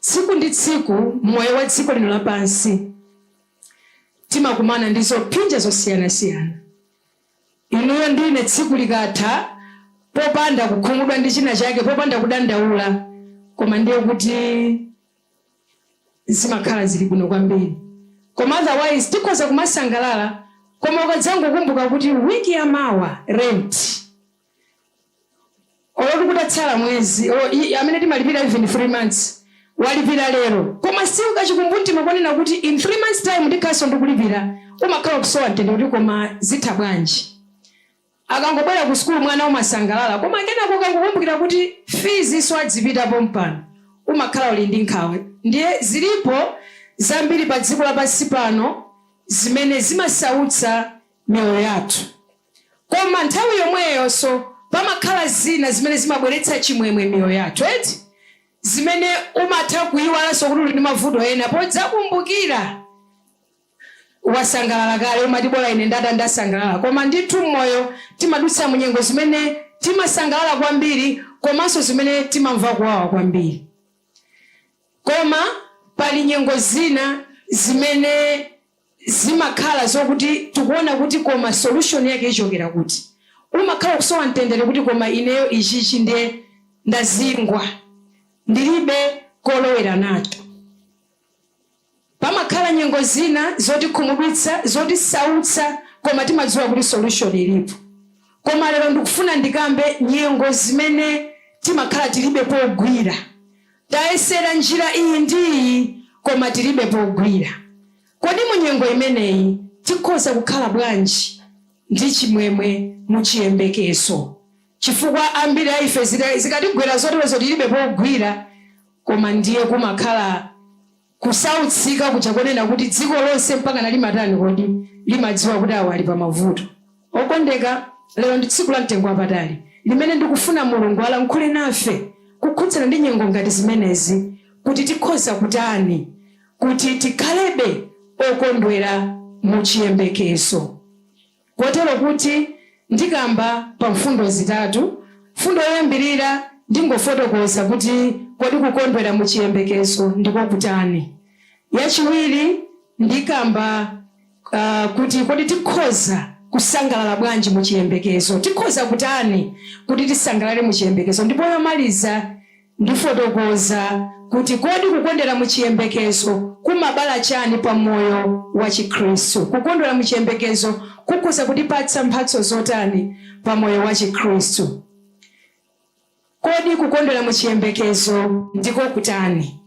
Tsiku ndi tsiku m'moyo wa dziko lino lapansi timakumana ndi zophinja zosiyanasiyana. Inuyo ndi ine tsiku likatha popanda kukhumudwa ndi china chake, popanda kudandaula, koma ndiye kuti zimakhala zili bwino kwambiri. Koma otherwise tikhoza kumasangalala koma ukadzangokumbuka kuti week ya mawa rent. olo kutatsala mwezi amene timalipira even 3 months walipira lero koma still kachikumbumtima konena kuti in 3 months time ndikhalanso ndikulipira umakhala ukusowa mtendere kuti koma zitha bwanji. Akangobwera ku sukulu mwana umasangalala koma kenako ukangokumbukira kuti fees nso adzipita pompano umakhala uli ndi nkhawa ndiye zilipo zambiri pa dziko lapansi pano zimene zimasautsa miyoyo yathu. Koma nthawi yomweyonso, pamakhala zina zimene zimabweretsa chimwemwe m'miyoyo yathu, eti, zimene umatha kuiwalanso kuti uli ndi mavuto ena podzakumbukira. Wasangalala kale, umati bola ine ndata ndasangalala. Koma ndithu m'moyo timadutsa mu nyengo zimene timasangalala kwambiri komanso zimene timamva kuwawa kwambiri. Koma pali nyengo zina zimene. zimakhala zokuti tikuona kuti koma solution yake ichokera kuti. Umakhala ukusowa mtendere kuti koma ineyo ichichi ndiye ndazingwa, ndilibe kolowera nacho. Pamakhala nyengo zina zotikhumudwitsa, zotisautsa koma timadziwa kuti solution ilipo. Koma lero ndikufuna ndikambe nyengo zimene timakhala tilibe pogwira. Tayesera njira iyi ndi iyi koma tilibe pogwira. Kodi mu nyengo imeneyi tikhoza kukhala bwanji ndi chimwemwe mu chiyembekezo? Chifukwa ambiri a ife zikatigwera zoterozo tilibe pogwira koma ndiye kumakhala Kusautsika kuja konena kuti dziko lonse mpakana limatani kodi? Limadziwa kuti awa ali pa mavuto. Okondeka, lero ndi tsiku la mtengo wapatali limene ndikufuna Mulungu alankhule nafe kukhudzana ndi nyengo ngati zimenezi kuti tikhoza kutani kuti tikhalebe okondwera mu chiyembekezo. Kotero kuti ndikamba pa mfundo zitatu. Mfundo yoyambirira ndingofotokoza kuti kodi kukondwera mu chiyembekezo ndiko kutani. Yachiwiri ndikamba kuti kodi tikhoza kusangalala bwanji mu chiyembekezo, tikhoza kutani kuti tisangalale mu chiyembekezo ndipo yomaliza, Ndifotokoza kuti kodi kukondwera mu chiyembekezo kumabala chani pa moyo wa chikhristu? Kukondwera mu chiyembekezo kukhoza kutipatsa mphatso zotani pa moyo wa chikhristu? Kodi kukondwera mu chiyembekezo ndiko kutani?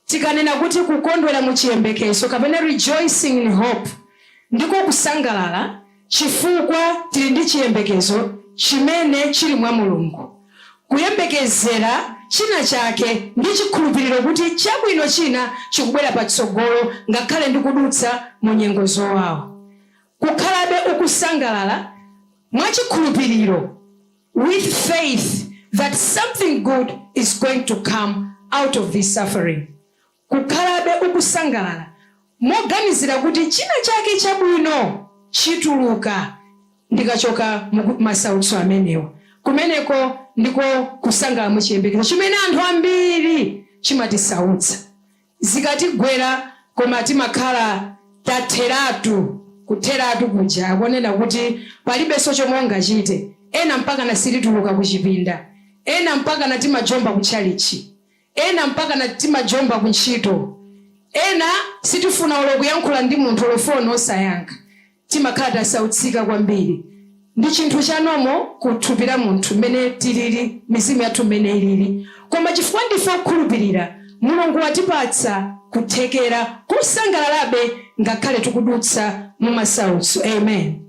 Tikanena kuti kukondwera mu chiyembekezo kapena rejoicing in hope, ndiko kusangalala chifukwa tili ndi chiyembekezo chimene chili mwa Mulungu. Kuyembekezera china chake ndi chikhulupiriro kuti chabwino china chikubwera patsogolo ngakhale ndikudutsa mu nyengo zowawa. Kukhalabe ukusangalala mwa chikhulupiriro. with faith that something good is going to come out of this suffering, kukhalabe ukusangalala moganizira kuti china chake chabwino chituluka ndikachoka masautso amenewa. Kumeneko ndiko kusangalala mu chiyembekezo chimene anthu ambiri chimatisautsa. zikatigwera koma timakhala tatheratu kutheratu kuja akuonena kuti palibenso chomwe ungachite ena mpakana sitituluka kuchipinda ena mpakana timajomba kutchalitchi ena mpakana timajomba kuntchito ena sitifuna olo kuyankhula ndi munthu olo phone osayankha timakhala tasautsika kwambiri. Ndi chinthu cha normal ku thupi la munthu mmene tilili, mizimu yathu mmene ilili. Koma chifukwa ndife okhulupirira, Mulungu watipatsa kuthekera kosangalalabe ngakhale tikudutsa mu masautso. Amen.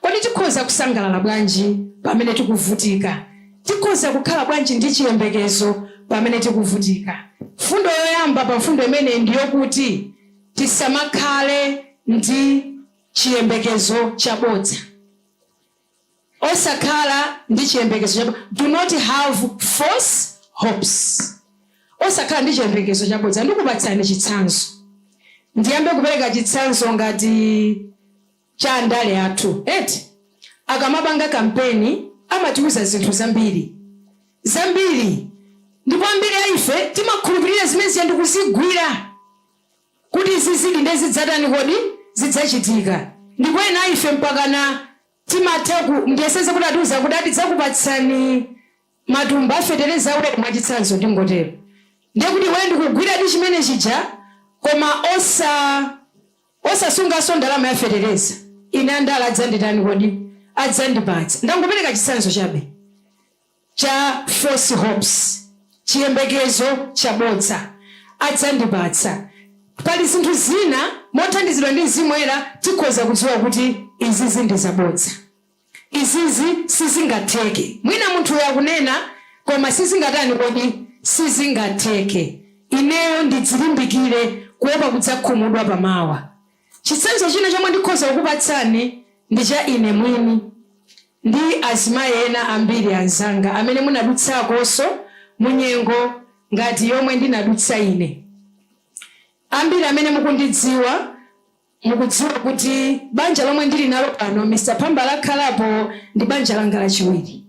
Kodi tikhoza kusangalala bwanji pamene tikuvutika? Tikhoza kukhala bwanji ndi chiyembekezo pamene tikuvutika? Mfundo yoyamba pa mfundo imeneyi ndi yokuti. Tisamakhale ndi chiyembekezo chabodza. Osakhala ndi chiyembekezo chabodza. Do not have false hopes. Osakhala ndi chiyembekezo chabodza. Ndikupatsani chitsanzo. Ndiyambe kupereka chitsanzo ngati. cha andale athu eti akamapanga kampeni amatiuza zinthu zambiri zambiri ndipo ambiri a ife timakhulupirira zimene zija ndikuzigwira kuti izizidi nde zidzatani kodi zidzachitika ndipo ena a ife mpakana timatha ndiyeseze kuti atiuza kuti a, tidzakupatsani matumba a fetereza awiri mwachitsanzo ndingotero ndiye kuti iweyo ndikugwiradi chimene chija koma osa osasunganso ndalama ya fetereza ine andale adzanditani kodi adzandipatsa ndangopereka chitsanzo chabe cha false hopes chiyembekezo chabodza adzandipatsa pali zinthu zina mothandizidwa ndi mzimu woyera tikhoza kudziwa kuti izizi ndi zabodza Izizi sizingatheke. Mwina munthuyo akunena koma sizingatani kodi? Sizingatheke. Ineyo ndidzilimbikire kuopa kudzakhumudwa pa mawa. Chitsanzo china chomwe ndikhoza kukupatsani ndi cha ine mwini ndi azimayi ena ambiri anzanga amene munadutsakonso mu nyengo ngati yomwe ndinadutsa ine. Ambiri amene mukundidziwa Mukudziwa kuti banja lomwe ndili nalo pano, Mr Phamba, lakhalapo ndi banja langa lachiwiri.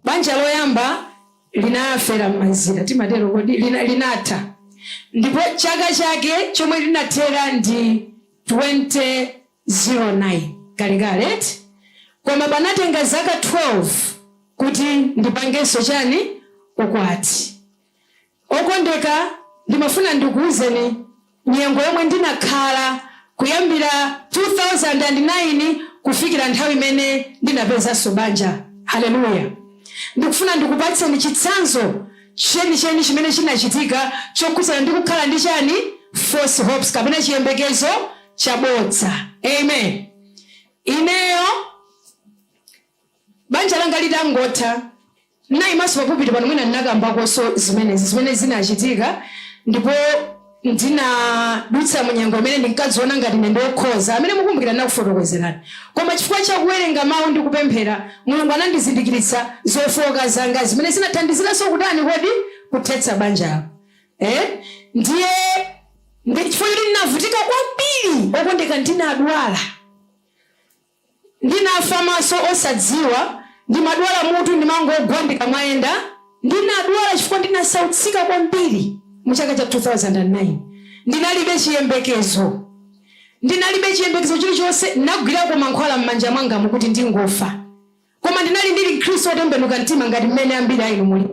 Banja loyamba linafera m'mazira, timatero kodi? linatha ndipo chaka chake chomwe linathera ndi 2009, kalekale eti, koma panatenga zaka 12 kuti ndipangenso chani, ukwati. Okondeka, ndimafuna ndikuuzeni nyengo yomwe ndinakhala kuyambira 2009 kufikira nthawi imene ndinapezanso banja. Haleluya. Ndikufuna ndikupatseni chitsanzo chenicheni chimene chinachitika chokhudzana ndi kukhala ndi chani? False hopes kapena chiyembekezo chabodza. Amen. Ineyo. Banja langa litangotha, n'naimanso pa pulpiti pano. Mwina n'nakambakonso zimenezi, zimene zinacitika, ndipo ndinadutsa mu nyengo imene ndinkadziona ngati ine ndi wokhoza, amene mukumbukila n'nakufotokozelani. Koma cifukwa ca kuwelenga Mau ndi kupemphela, Mulungu anandizindikilitsa zofooka zanga, zimene zinathandizilanso kutani kodi? kuthetsa banjalo. Eeh, ndiye ndi cifukwa coti n'navutika kwambili, okondeka, ndinadwala. Ndinafa maso osadziwa, ndimadwala mutu, ndimangogwa ndikamayenda. Ndinadwala chifukwa ndinasautsika kwambiri mu chaka cha 2009. Ndinalibe chiyembekezo. Ndinalibe chiyembekezo chilichonse. Ndinagwirako mankhwala m'manja mwangamu kuti ndingofa. Koma ndinali ndili Mkristu wotembenuka mtima ngati mmene ambiri a inu muli.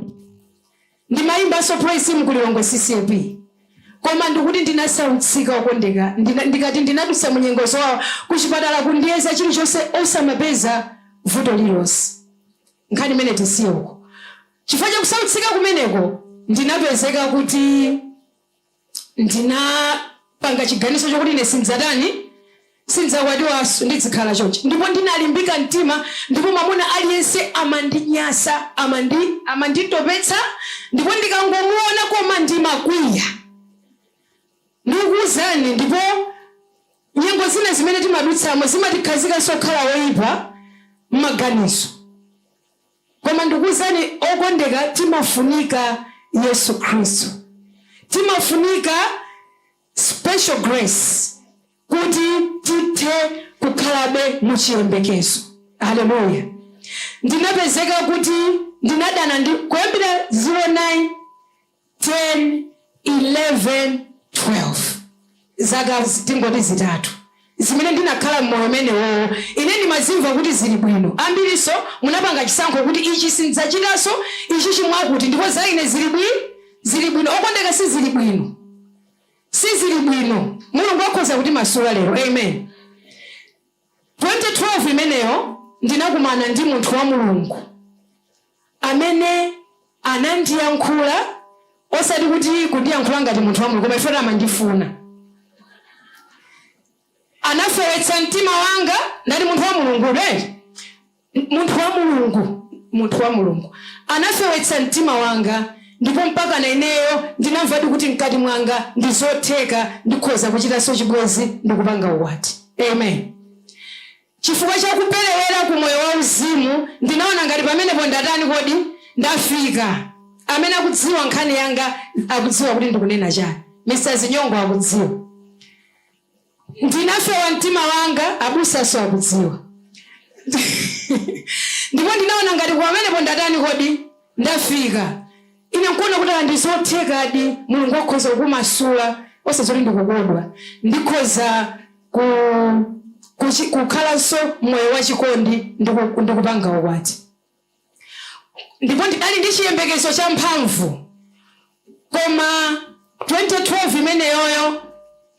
Ndimayimbanso praise team ku Lilongwe CCAP koma ndikuti ndinasautsika okondeka ndikati ndinadutsa munyengo zowawa kuchipatala kundiyeza chilichonse osamapeza vuto lilonse nkhani imeneyi tisiye uko chifukwa chakusautsika kumeneko ndinapezeka kuti ndinapanga chiganizo chokuti ine sindidzatani, sindidzakwatiwanso, ndidzikhala chonchi. Ndipo ndinalimbika mtima, ndipo mwamuna aliyense amandinyasa, amanditopetsa, ndipo ndikangomuona koma ndimakwiya. Ndikuwuzani, ndipo nyengo zina zimene timadutsamo zimatikhazikanso kukhala oyipa m'maganizo. Koma ndikuuzani okondeka timafunika Yesu Khristu. Timafunika special grace kuti tithe kukhalabe mu chiyembekezo. Aleluya! Ndinapezeka kuti ndinadana ndi kuyambira 09 10 11 12 Zaka tingoti zitatu zimene ndinakhala mmoyo umenewowo, ine ndimazimva kuti ziri bwino. Ambirinso munapanga chisankho kuti, Ichi sindidzachitanso, ichi chimwakuti, ndipo za ine ziri bwi, ziri bwino. Okondeka, siziri bwino. Siziri bwino. Mulungu akhoza kutimasula lero. Amen. 2012 imeneyo ndinakumana ndi munthu wa Mulungu amene anandiyankhula osati kuti kundiyankhula ngati munthu wa Mulungu koma chifukwa amandifuna anafewetsa mtima wanga ndati munthu wa Mulungu red Munthu wa Mulungu, munthu wa Mulungu anafewetsa mtima wanga, ndipo mpakana ineyo ndinamvadi kuti mkati mwanga ndi zotheka, ndikhoza kuchitanso chibwenzi ndi kupanga ukwati. Amen. Chifukwa cha kuperewera ku moyo wa uzimu, ndinaona ngati pamenepo ndatani kodi? Ndafika. Amene akudziwa nkhani yanga akudziwa kuti ndikunena chani. Mr. Zinyongo akudziwa. Ndinafewa mtima wanga, abusanso akudziwa. Ndipo ndinaona ngati koma pamenepo ndatani kodi? Ndafika. Ine nkuona kuti ah, ndi zothekadi, Mulungu akhoza kukumasula, osadziwa kuti ndikukodwa. Ndikhoza ku, kuchi, kukhalanso moyo wachikondi ndi ku- ndi kupanga ukwati. ndipo ndinali ndi chiyembekezo champhamvu. Koma 2012 imeneyoyo,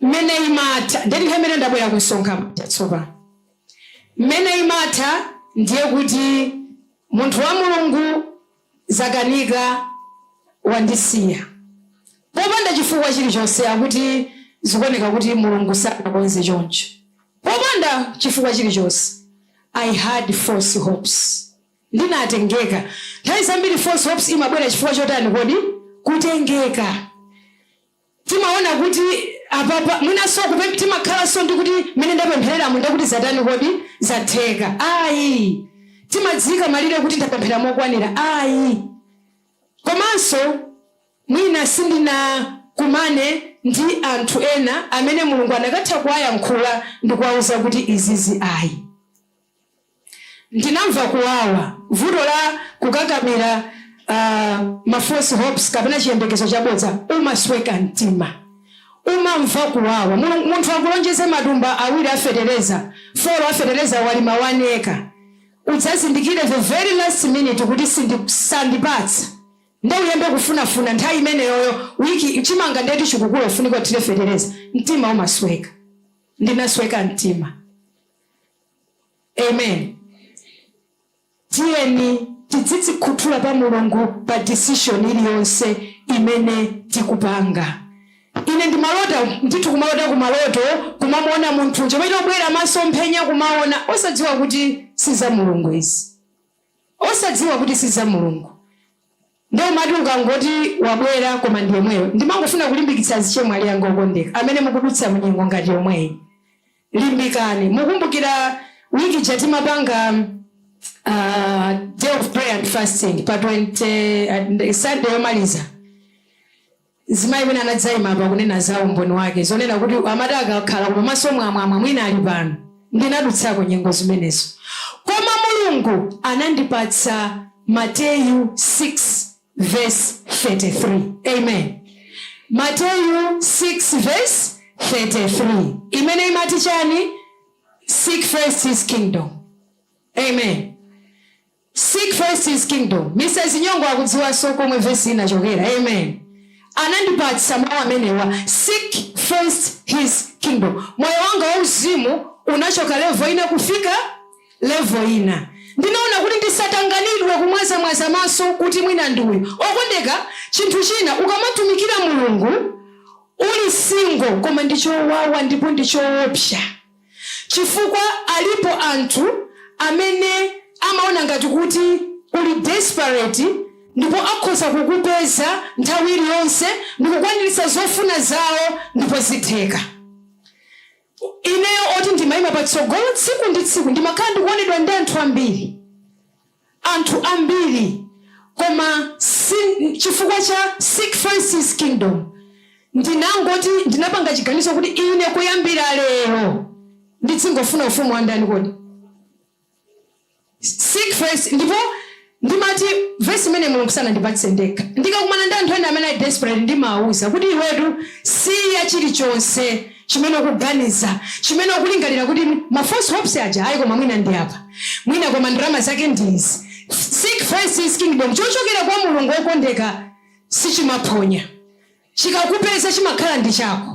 mmene imatha, ndiye nthawi imene ndabwera ku msonkhano uja tsopano. Mmene imatha, ndiye kuti munthu wa Mulungu zakanika wandisiya popanda chifukwa chilichonse, akuti zikuoneka kuti Mulungu sanakonze choncho. Popanda chifukwa chilichonse. I had false hopes. Ndinatengeka. Nthawi zambiri false hopes imabwera chifukwa chotani kodi? Kutengeka. Timaona kuti apapa mwinanso kupe, timakhalanso ndi kuti mmene ndapemphereramu ndiye kuti zatani kodi? Zatheka. Ayi. Timadziika malire kuti ndapemphera mokwanira. Ayi. Komanso. Mwina sindinakumane ndi anthu ena amene Mulungu anakatha kuwayankhula ndi kuwauza kuti izizi ayi. Ndinamva kuwawa, vuto la kukakamira uh, ma false hopes kapena chiyembekezo chabodza, umasweka mtima, umamva kuwawa. Munthu akulonjeze matumba awiri a fetereza, 4 a fetereza walima one acre, udzazindikire the very last minute kuti sandipatsa nde uyambe kufunafuna nthawi imeneyoyo week chimanga nde kuti chikukula ufunike uthire fetereza mtima umasweka ndinasweka mtima amen tiyeni tidzidzikhuthula pa mulungu pa decision iliyonse imene tikupanga ine ndimalota ndithu kumalota kumaloto kumamuona munthu nje kumachita kubwera masomphenya kumaona osadziwa kuti si za mulungu izi osadziwa kuti si za Mulungu nde umati ukangoti wabwera koma ndi yemweyo ndimangofuna kulimbikitsa azichemwali anga okondeka amene mukudutsa mu nyengo ngati yomweyi limbikani mukumbukira week ija timapanga aah day of prayer and fasting pa 20 Sunday yomaliza Mzimayi wina anadzaima apa, kunena za umboni wake, zonena kuti amati akakhala koma maso mwamwamwa, mwina ali pano. Ndinadutsako nyengo zimenezo. Koma Mulungu anandipatsa Mateyu 6 vesi 33. Amen. Mateyu 6 vesi 33, imene imati chani? Seek first His kingdom. Amen. Seek first his kingdom. Mrs Nyong'o akudziwanso komwe verse yi inachokera. Amen. Anandipatsa mau amenewa seek first his kingdom. Moyo wanga wauzimu unachoka level ina kufika level ina. Ndinaona kuti ndisatanganidwe kumwazamwaza maso kuti mwina ndi uyu. Okondeka, chinthu china ukamatumikira Mulungu uli single koma ndi chowawa ndipo ndi choopsa. chifukwa alipo anthu amene amaona ngati kuti uli desperate ndipo akhoza kukupeza nthawi iliyonse ndikukwaniritsa zofuna zawo ndipo zitheka. Ineyo oti ndimaima patsogolo tsiku ndi tsiku ndimakhala ndikuonedwa ndi anthu ambiri. anthu ambiri, koma chifukwa cha seek first His kingdom, ndinangoti, ndinapanga chiganizo kuti ine kuyambira lero ndidzingofuna Ufumu wa ndani kodi? Seek first, ndipo ndimati vesi imeneyi Mulungu sanandipatse ndekha. Ndikakumana ndi anthu ena amene ali desperate, ndimawauza kuti iwetu siya chilichonse. chimene ukuganiza, chimene ukulingalira kuti mm, ma false hopes aja ayi, koma mwina ndi apa, mwina koma ndalama zake ndi izi. Seek first his kingdom, chochokera kwa Mulungu wokondeka sichimaphonya, chikakupeza chimakhala ndi chako.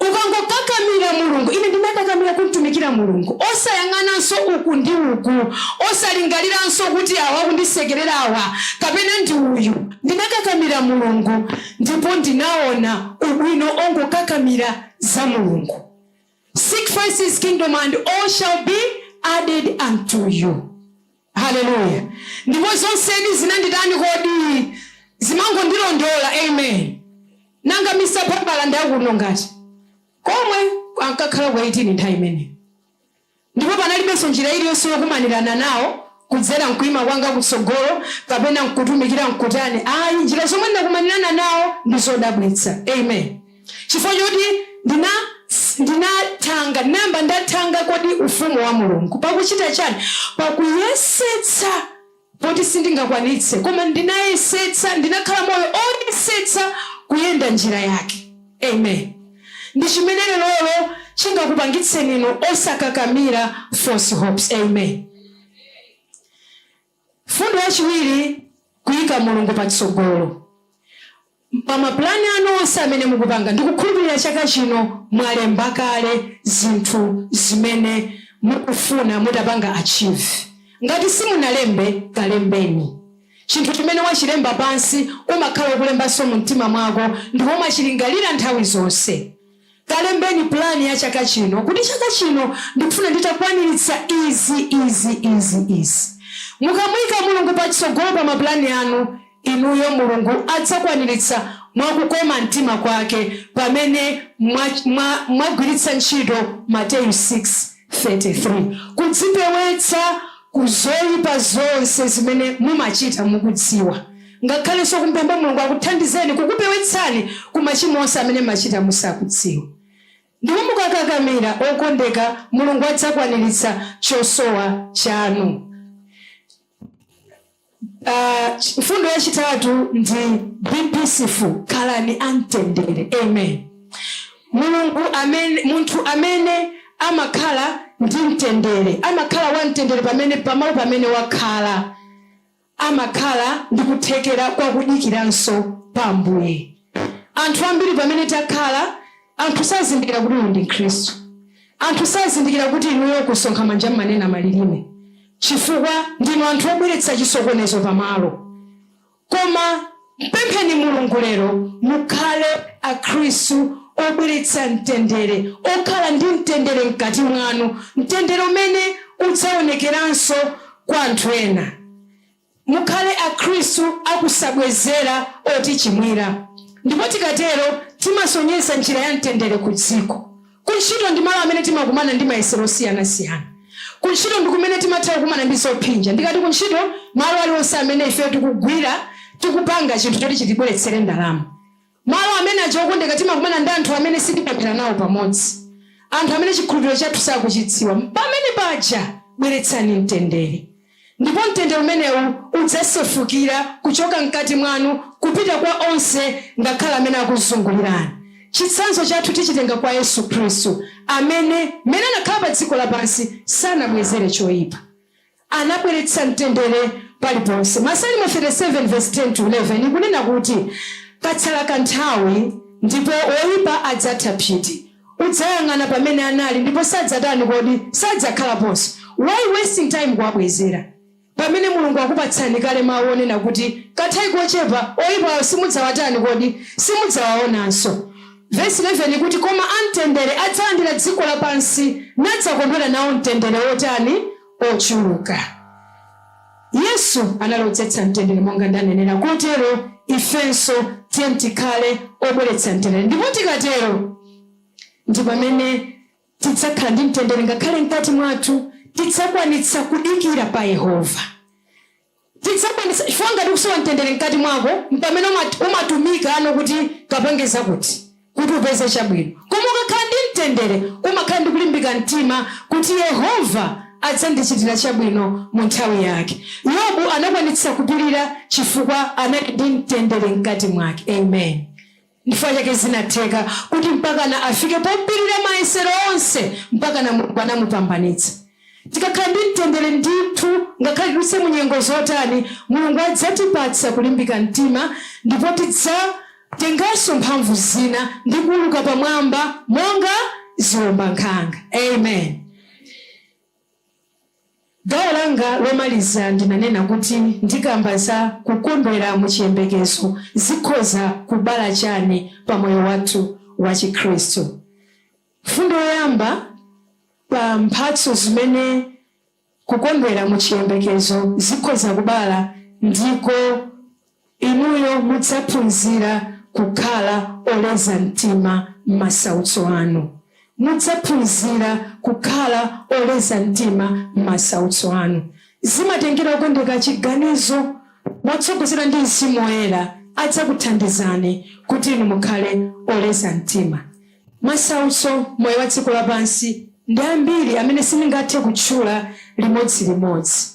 Ukangokakamira Mulungu, ine ndinakakamira kumtumikira Mulungu, osayang'ananso uku ndi uku, osalingaliranso kuti awa akundisekerera awa kapena ndi uyu, ndinakakamira Mulungu. ndipo ndinaona ubwino ongokakamira za Mulungu seek first his kingdom and all shall be added unto you haleluya ndipo zonsedi zinanditani kodi zimangondilondola amen nanga Mr. Babala ndi akuno ngati komwe ankakhala ku 18 nthawi imeneyo Ndipo panalibenso njira iliyonse yokumanirana nawo, kudzera m'kuima kwanga kutsogolo, kapena m'kutumikira m'kutani. Ayi, njira zomwe ndinakumanirana nawo ndi zodabwitsa. Amen. Chifukwa choti ndina, ndinathanga, ndinayamba ndathanga kodi ufumu wa Mulungu. Pakuchita chiyani? Pakuyesetsa. poti sindingakwanitse, koma ndinayesetsa, ndinakhala moyo oyesetsa kuyenda njira yake. Amen. Ndi chimene lerolo chingakupangitseni inu osakakamira false hopes. Amen. Mfundo yachiwiri, kuika Mulungu patsogolo. pa ma plan anu onse amene mukupanga. Ndikukhulupilira chaka chino mwalemba kale zinthu zimene mukufuna mutapanga achieve. Ngati simunalembe, kalembeni. Chinthu chimene wachilemba pansi umakhala ukulembanso mu mtima mwako ndipo umachilingalira nthawi zonse. Kalembeni pulani ya chaka chino kuti chaka chino ndikufuna nditakwaniritsa izi, izi, izi, izi. Mukamuika Mulungu patsogolo pa mapulani anu inuyo Mulungu adzakwaniritsa mwa kukoma mtima kwake pamene mwa, mwa, mwagwiritsa ntchito Mateyu 6. 33 kudzipewetsa ku zoipa zonse zimene mumachita mukudziwa, ngakhalenso kum'pempha Mulungu akuthandizeni kukupewetsani ku machimo onse amene m'machita musakudziwa. Ndipo mukakakamira, okondeka, Mulungu adzakwaniritsa chosowa chanu. Mfundo yachitatu ndi be peaceful, khalani a mtendere. Amen. Mulungu amene, munthu amene amakhala ndi mtendere amakhala wa mtendere pamene pamalo pamene wakhala amakhala ndi kuthekera kwa kudikiranso pa Ambuye. Anthu ambiri pamene takhala, anthu sazindikira kuti uyu ndi Mkhristu, anthu sazindikira kuti inuyo kusonkha manja mmanena malilime. chifukwa ndinu anthu obweretsa chisokonezo pa malo koma mpempheni mulungu lero mukhale akhristu obweretsa mtendere okhala ndi mtendere mkati mwanu mtendere umene udzaonekeranso kwa anthu ena Mukhale Akhristu akusabwezera otichimwira, ndipo tikatero timasonyeza njira ya mtendere kudziko. Kuntchito ndi malo amene timakumana ndi mayesero osiyanasiyana. Kuntchito ndi kumene timatha kukumana ndi zophinja. Ndikati kuntchito, malo aliwonse amene ifeyo tikugwira, tikupanga chinthu choti chitibweretsere ndalama. Malo amene aja okondedwa timakumana ndi anthu amene sitipemphera nawo pamodzi, anthu amene chikhulupiriro chathu sakuchidziwa. Pamene paja bweretsani mtendere, ndipo mtendere umenewu udzasefukira kuchoka mkati mwanu kupita kwa onse ngakhale amene akuzungulirani. Chitsanzo chathu tichitenga kwa Yesu Khristu amene mmene anakhala pa dziko lapansi sanabwezere choipa. anabweretsa mtendere paliponse. Masalimo 37 vesi 10 to 11 ikunena kuti katsala kanthawi ndipo woipa adzatha phiti. Udzayang'ana pamene anali ndipo sadzatani kodi? Sadzakhalaponso. Why wasting time kuwabwezera pamene Mulungu akupatsani kale mau onena kuti kanthawi kochepa oipawo simudzawatani kodi? Simudzawaonanso. Vesi 11 ikuti koma amtendere adzalandira dziko lapansi nadzakondwera nawo mtendere wotani? ochuluka. Yesu anali odzetsa mtendere monga ndanenera, kotero ifenso tiyeni tikhale obweretsa mtendere, ndipo tikatero ndi pamene tidzakhala ndi mtendere ngakhale mkati mwathu, tidzakwanitsa kudikira pa Yehova. Tidzakwanitsa chifukwa ngati ukusowa mtendere mkati mwako mpamene umatumikano kuti kapange zakuti kuti upeze chabwino koma ukakhala ndi mtendere umakhala ndi kulimbika mtima kuti Yehova adzandichitira chabwino mu nthawi yake. Yobu anakwanitsa kupirira chifukwa anali ndi mtendere mkati mwake. Amen. Nchifukwa chake zinatheka kuti mpakana afike popirira mayesero onse mpakana Mulungu anamupambanitsa. Tikakhala ndi mtendere ndithu ngakhale tidutse mu nyengo zotani, Mulungu adzatipatsa kulimbika mtima ndipo tidzatenganso mphamvu zina ndi kuuluka pamwamba monga ziombankhanga. Amen. Gawo langa lomaliza ndinanena kuti ndikamba za kukondwera mu chiyembekezo zikhoza kubala chani pa moyo wathu wa chikhristu. Mfundo yoyamba pa mphatso zimene kukondwera mu chiyembekezo zikhoza kubala ndiko. Inuyo mudzaphunzira kukhala oleza mtima m'masautso anu. Mudzaphunzira kukhala oleza mtima m'masautso anu. Zimatengera okondeka chiganizo motsogozedwa ndi Mzimu Woyera adzakuthandizani kuti inu mukhale oleza mtima. Masautso moyo wa dziko lapansi ndi ambiri amene sindingathe kutchula limodzi limodzi.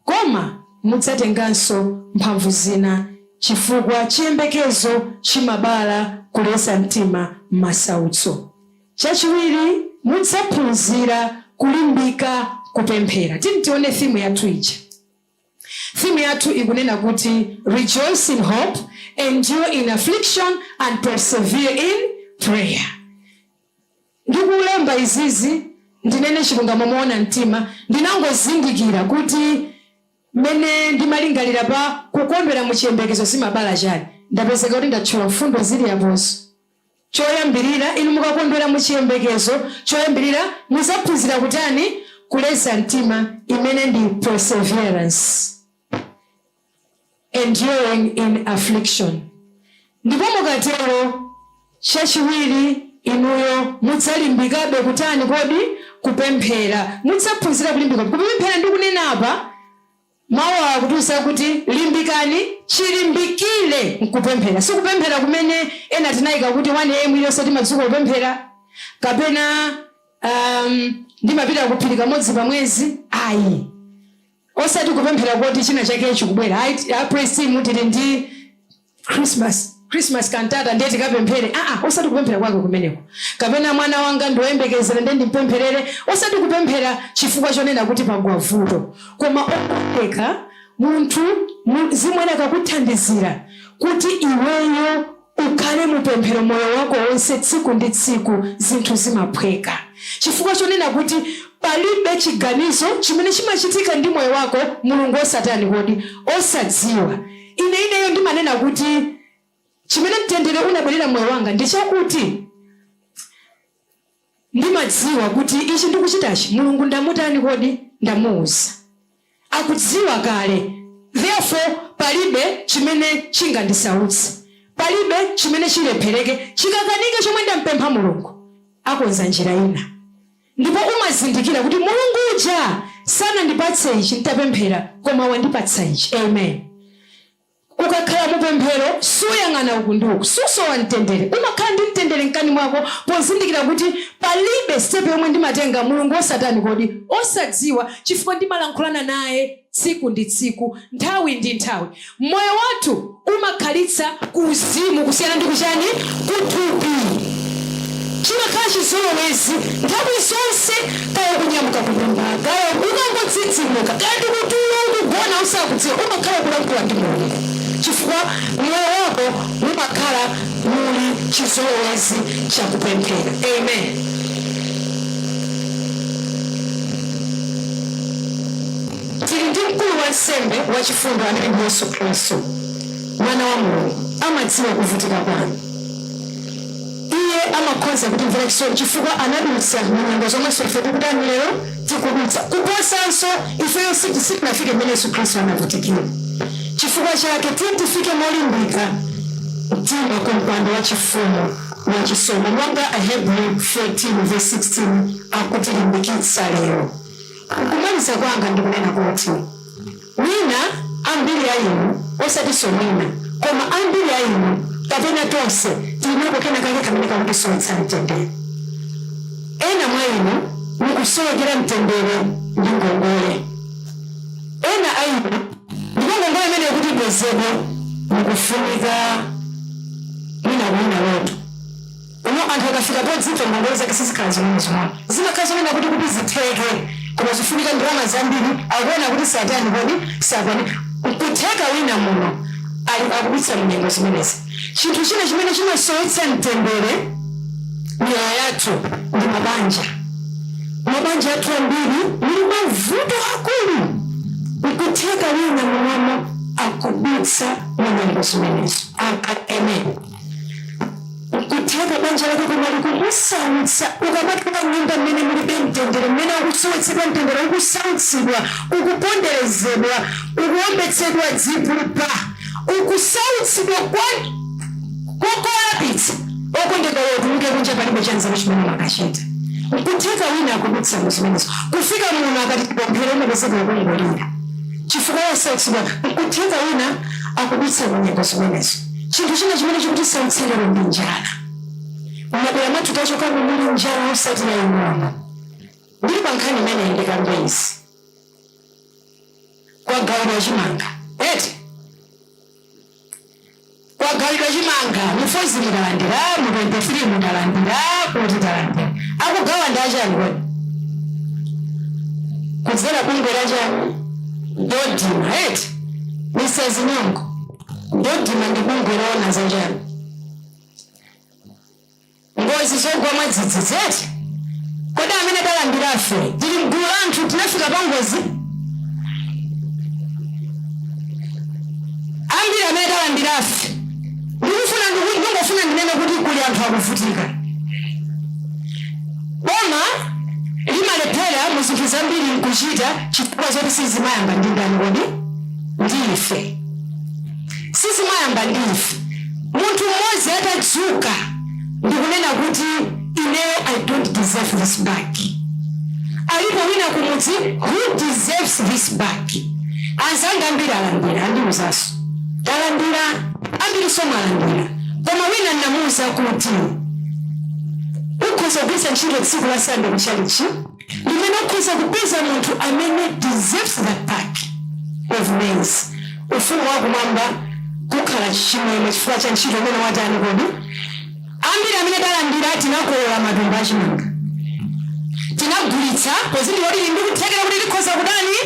Koma mudzatenganso mphamvu zina, chifukwa chiyembekezo chimabala kuleza mtima m'masautso. Chachiwiri, mudzaphunzira kulimbika kupemphera. Tiyeni tione theme yathu ija. Theme yathu ikunena kuti Rejoice in Hope, Endure in Affliction, and Persevere in Prayer. ndikulemba izizi ndinene chilungamo moona mtima, ndinangozindikira kuti mmene ndimalingalira pa kukondwera mu chiyembekezo zimabala chani. Ndapezeka kuti ndatchula mfundo zili apozo. Choyambirira, inu mukakondwera mu chiyembekezo, choyambirira muzaphunzira kutani? Kuleza mtima, imene ndi perseverance. enduring in affliction. Ndipo mukatero, chachiwiri, inuyo mudzalimbikabe kutani kodi? kupemphera. Mudzaphunzira kulimbika kupemphera. Ndikunena apa, Mawu awa akutiuza kuti limbikani chilimbikire m'kupemphera. Si kupemphera kumene ena tinaika kuti 1 AM iliyonse timadzuka kupemphera, kapena, um, ndimapita ku phiri kamodzi pa mwezi. Ayi. Osati kupemphera koti china chake chikubwera, ayi, a praise team tili ndi Christmas, Christmas cantata ndiye tikapemphere, aa, osati kupemphera kwake kumeneko. Kapena mwana wanga ndi woyembekezera ndiye ndimpempherere, osati kupemphera chifukwa chonena kuti pagwa vuto. Koma okondeka, munthu, mu, Mzimu Woyera akakuthandizira kuti iweyo Ukhale mu pemphero moyo wako wonse tsiku ndi tsiku zinthu zimaphweka chifukwa chonena kuti palibe chiganizo chimene chimachitika ndi moyo wako Mulungu osatani kodi osadziwa ine ineyo ndimanena kuti chimene mtendere unabwerera moyo wanga ndi chakuti Ndimadziwa kuti ichi ndikuchitachi Mulungu ndamutani kodi? Ndamuuza. Akudziwa kale therefore palibe chimene chingandisautse. Palibe chimene chilephereke, chikakanike chomwe ndampempha Mulungu. Akonza njira ina. Ndipo umazindikira kuti Mulungu uja sanandipatse ichi nditapemphera koma wandipatsa ichi. Amen. Ukakhala mu pemphero, suyang'ana uku ndi uku, susowa mtendere, umakhala ndi mtendere mkati mwako pozindikira kuti, Palibe step yomwe ndimatenga Mulungu osatani kodi? osadziwa chifukwa ndimalankhulana naye tsiku ndi tsiku, nthawi ndi nthawi. Moyo wathu umakhalitsa. ku uzimu kusiyana ndi ku chani? Ku thupi. Chimakhala chizolowezi nthawi zonse kaya ukunyamuka kunyumba, kaya ukungodzidzimuka, kaya ndi kutulo ukugona usakudziwa, umakhala ukulankhula ndi Mulungu chifukwa mmoyo mwako mumakhala muli chizolowezi cha kupemphera. Amen. Tili ndi mkulu wansembe wachifundo amene ndi Yesu Khristu, Mwana wa Mulungu. Amadziwa kuvutika kwanu. Iye amakhoza kutimvera chisoni chifukwa anadutsa mu nyengo zomwenso ife tikutani lero? tikudutsa. Kuposanso, ifeyo siti, sitinafike mmene Yesu Khristu anavutikira. Chifukwa chake, tiyeni tifike molimbika mtima ku mpando wachifumu wa chisomo monga Ahebri 4 vesi 16 akutilimbikitsa lero. M'kumaliza kwanga ndikunena kuti. Mwina ambiri a inu, osatinso mwina, koma ambiri a inu kapena tonse tiri nako kenakake kamene kakutisowetsa mtendere. Ena mwa inu mukusowekera mtendere ndi ngongole. Ena a inu, ndipo ngongole imeneyo kuti ibwezedwe, mukufunika mwina kuwina loto. Kuno anthu akafika podzipha ngongole zake sizikhala zing'onozing'ono. Zimakhala zonena kuti kuti zitheke koma zifunika ndalama zambiri akuona kuti satani kodi sakwanitsa. Nkutheka wina muno akudutsa munyengo zimenezi. Chinthu china chimene chimasowetsa mtendere m'miyoyo yathu ndi mabanja. Mabanja athu ambiri muli mavuto aakulu. Nkutheka wina munomo akudutsa munyengo zimenezo. Amen. nkutheka banja lako kumali kukusautsa ukamakhala m'nyumba mmene mulibe mtendere mmene ukusowetsedwa mtendere ukusautsidwa ukuponderezedwa ukuombetsedwa zipupa ukusautsidwa kwa- kolapitsa okondedwa akatuluka kunja palibe chanzeru chimene amakachita nkutheka wina akudutsa mu zimenezo kufika muno akati tipemphere umapezeka ukungolira chifukwa chosautsidwa nkutheka wina akudutsa mu nyengo zimenezo Chinthu china chimene chikutisautsa lero ndi njala. M'madera mwathu tachokamu muli njala osati yaing'ono. Ndili pa nkhani imeneyi ndikambe izi. Kwagawidwa chimanga, eti? Kwagawidwa chimanga, mu Falls mudalandira, mu 23 mudalandira, kuti talandira. Akugawa ndi achani kodi? Kudzera bungwe la chani? Dodma, eti? Mrs. Nyongo. Dodma ndi bungwe loona za chani? Ngozi zogwa mwadzidzidzi eti? Kodi amene talandirafe tili mgulu la anthu tinafika pangozi? Ambiri amene talandirafe ndikufuna ndiku- ndingofuna ndinene kuti kuli anthu akuvutika. Boma limalephera mu zinthu zambiri nkuchita chifukwa choti sizimayamba ndi ndani kodi? Ndi ife. sizimayamba ndi ife munthu mmodzi atadzuka ndikunena kuti ineyo i don't deserve this bag alipo wina kumudzi who deserves this bag anzanga ambiri alandira andiuzaso talandira ambiriso mwalandira koma wina namuuza kuti ukhoza kugwiritsa ntchito tsiku la sande kuchalichi Ndi mmene ukhoza kupeza munthu amene deserves that bag of maize ufumu wa kumwamba kukhala chimwemwe chifukwa cha ntchito imene watani kodi ambiri amene talandira tinakolola matumba achimanga tinagulitsa pozindikira kuti tili ndi kuthekera kuti tikhoza kutani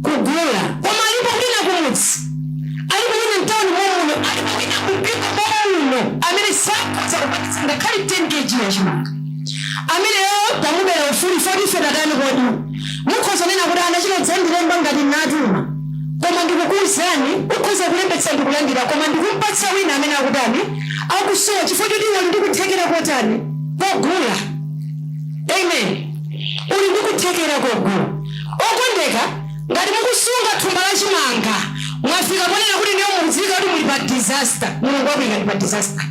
kugula koma alipo wina kumudzi alipo wina mtauni momuno alipo wina kumpingo momuno amene sakhoza kupatitsa ngakhale 10 kg yachimanga Ameneyo tamubela ufulu poti ife tatani kodi? Mukhoza kunena kuti anachita dzandilemba ngati nnatuma koma ndikukuuzani ukhoza kulembetsa ndikulandira koma ndikumpatsa wina amene akutani akusowa chifukwa choti iwe uli ndi kuthekera kotani kogula amen uli ndi kuthekera kogula okondeka Ngati mukusunga thumba la chimanga mwafika ponena kuti ndiye mukudziwika kuti muli pa disaster, Mulungu wakuyikani pa disaster.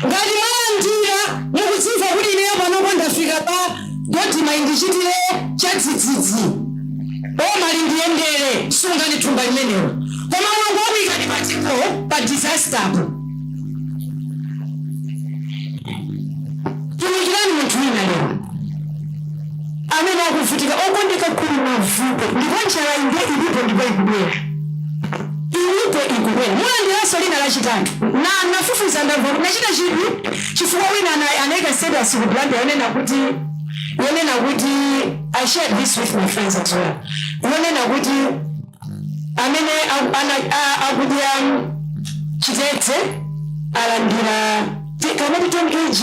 Ngati mwalandira mukudzimva kuti ineyo panopo ndafika pa Dodma indichitire chadzidzidzi, boma lindiyendere, sungani thumba limenelo. Koma Mulungu wakuyikani pa dipo, pa disasterpo. Tumikirani munthu wina lero. amene akuvutika okondeka kuli mavuto ndipo njalayi ndiye ilipo ndipo ikubwera ilipo ikubwera mulandiranso lina lachitatu na nafufuza ndamva kuti nachita chidwi chifukwa wina ana- anayika status ku Blantyre yonena kuti yonena kuti i shared this with my friends as well yonena kuti amene aku- ana- a- akudya chitedze alandire ti- kamati 10 kg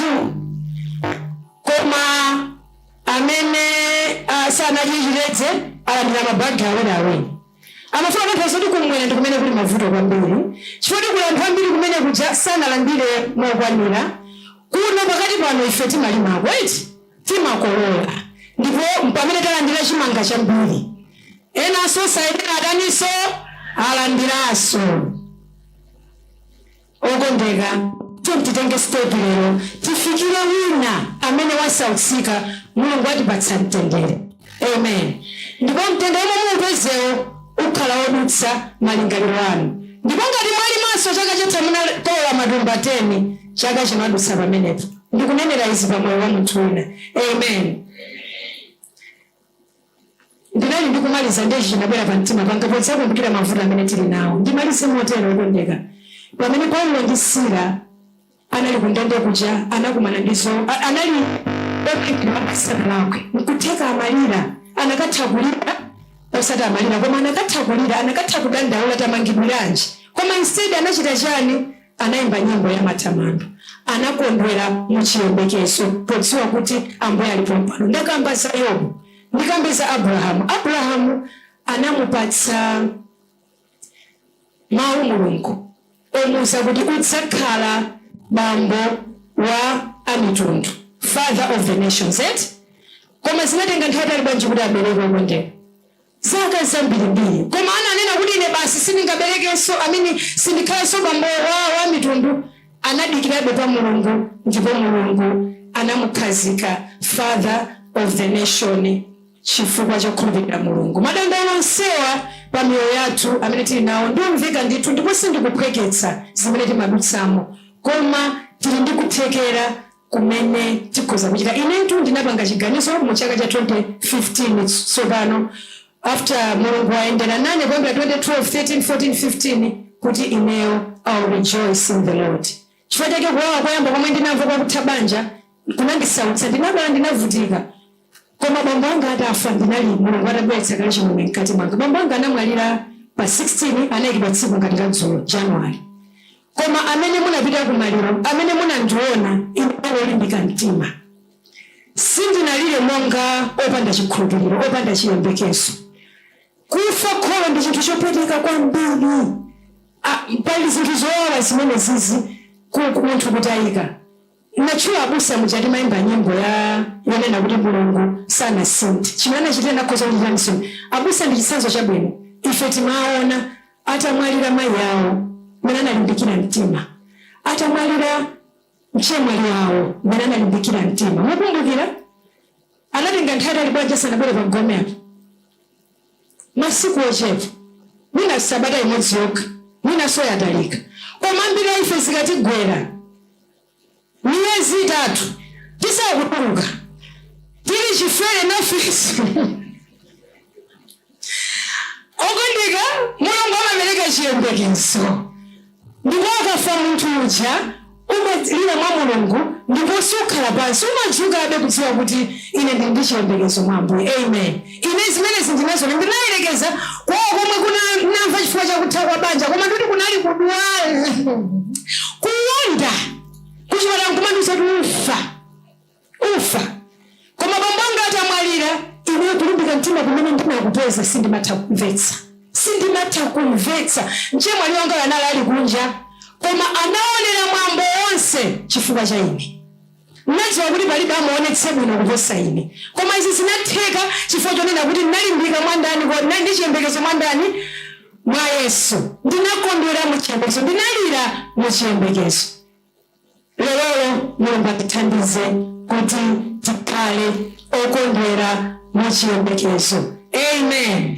Koma amene a, sanadye chitedze alandira mabagi awiri awiri. Amafuna kutanthauza kuti kumwera ndi kumene kuli mavuto kwambiri chifukwa kuti kuli anthu ambiri kumene kuja sanalandire mokwanira. Kuno pakati pano ife timalimako eti, timakolola ndipo mpamene talandira chimanga chambiri. Enanso osayenera ataninso? Alandiranso. Okondeka, tiyeni titenge sitepi lero, tifikire wina amene wasautsika. Mulungu atipatsa mtendere. Amen. Ndipo mtendere womwe muupezewo ukhala wodutsa malingaliro anu. Ndipo ngati mwalimanso, chaka chatha munakolola matumba teni, chaka chino adutsa pamenepo. Ndikunenera izi pa moyo wa munthu wina. Amen. Amen. Ndinali ndi kumaliza ndiye ichi chinabwera pa mtima panga podzakumbukira mavuto amene tili nawo. Ndimalize motero, wokondeka, pamene Paulo ndi Sila anali ku ndende kuja anakumana ndi zo, anali okhomedwa asanalakwe. Nkutheka amalira, anakatha kulira, osati amalira, koma anakatha kulira, anakatha kudandaula tamangidwiranji, koma instead anachita chiyani? Anaimba nyimbo ya matamando. Anakondwera mu chiyembekezo podziwa kuti Ambuye ali pompano. Ndakamba za Yobu, ndikambe za Abrahamu. Abrahamu anamupatsa mawu Mulungu omuwuza kuti udzakhala bambo wa amitundu, father of the nations, eti? Koma zinatenga nthawi yaitali bwanji kuti abereke okondeka? zaka zambirimbiri. Koma sananene kuti ine basi sindingaberekenso, ameni, sindikhalanso bambo wa amitundu, anadikirabe pa Mulungu, ndipo Mulungu anamukhazika Father of the Nation chifukwa chokhulupirira Mulungu. Madandaulo onsewa pa miyoyo yathu amene tiri nawo ndi omveka ndithu, ndipo sindikuphweketsa zimene timadutsamo, koma tiri ndi kuthekera kumene tikhoza kuchita. Inetu ndinapanga chiganizo mu chaka cha 2015 tsopano after Mulungu wayendera nane kuyambira 2012, 13, 14, 15 kuti ineyo I'll rejoice in the Lord. Chifukwa chake kuwawa koyamba komwe ndinamva kwa kutha banja kunandisautsa. Ndinadwala, ndinavutika. Koma bambo anga atafa, ndinali, Mulungu atabweretsa kale chimwemwe mkati mwanga. Bambo anga anamwalira pa 16, anaikidwa tsiku ngati la dzulo, Januwale. Koma amene munapita ku maliro, amene munandiona, ine olimbika mtima. Sindinalire monga opanda chikhulupiriro, opanda chiyembekezo. Kufa kholo ndi chinthu chopweteka kwambiri. A, pali zinthu zowawa zimene zizi ku, ku munthu kutayika. Ndatchula abusa muja timaimba nyimbo ya yonena kuti Mulungu sanasinthe chimene anachitira ndikhoza kuchitiranso abusa ndi chitsanzo chabwino ife timaona atamwalira mayi awo mmene analimbikira mtima atamwalira mchemwali awo mmene analimbikira mtima mukumbukira anatenga nthawi yayitali bwanji asanabwere pa gome apa masiku ochepa, mwina sabata imodzi yokha, mwinanso yatalika. Koma ambiri a ife zikatigwera miyezi itatu tisakutuluka, tili chifere nafisi. Okondeka, Mulungu amapereka chiyembekezo. Ndipo akafa munthu uja, umalira mwa Mulungu, ndipo sukhala pansi, umadzuka, abale, kudziwa kuti ine ndiri ndi chiyembekezo mwa Ambuye. Amen. Ine zimenezi ndinaziona. Ndinayerekeza kwa komwe kuna, namva chifukwa cha kutha kwa banja, koma ndikuti kunali kudwala, kuwonda, kuchipatala nkumandiuza kuti ufa. ufa koma bambo anga atamwalira. Ineyo kulimbika mtima kumene ndinakupeza sindimatha kumvetsa. Mchemwali wangayo anali ali kunja koma anaonera mwambo wonse chifukwa cha ine. Ndinadziwa kuti palibe amuonetse bwino kuposa ine. Koma izi zinatheka chifukwa chonena kuti ndinalimbika mwa ndani kodi? Ndinali ndi chiyembekezo mwa ndani? Mwa Yesu. Ndinakondwera mu chiyembekezo. Ndinalira mu chiyembekezo. Lelolo, Mulungu atithandize kuti tikhale okondwera mu chiyembekezo. Amen.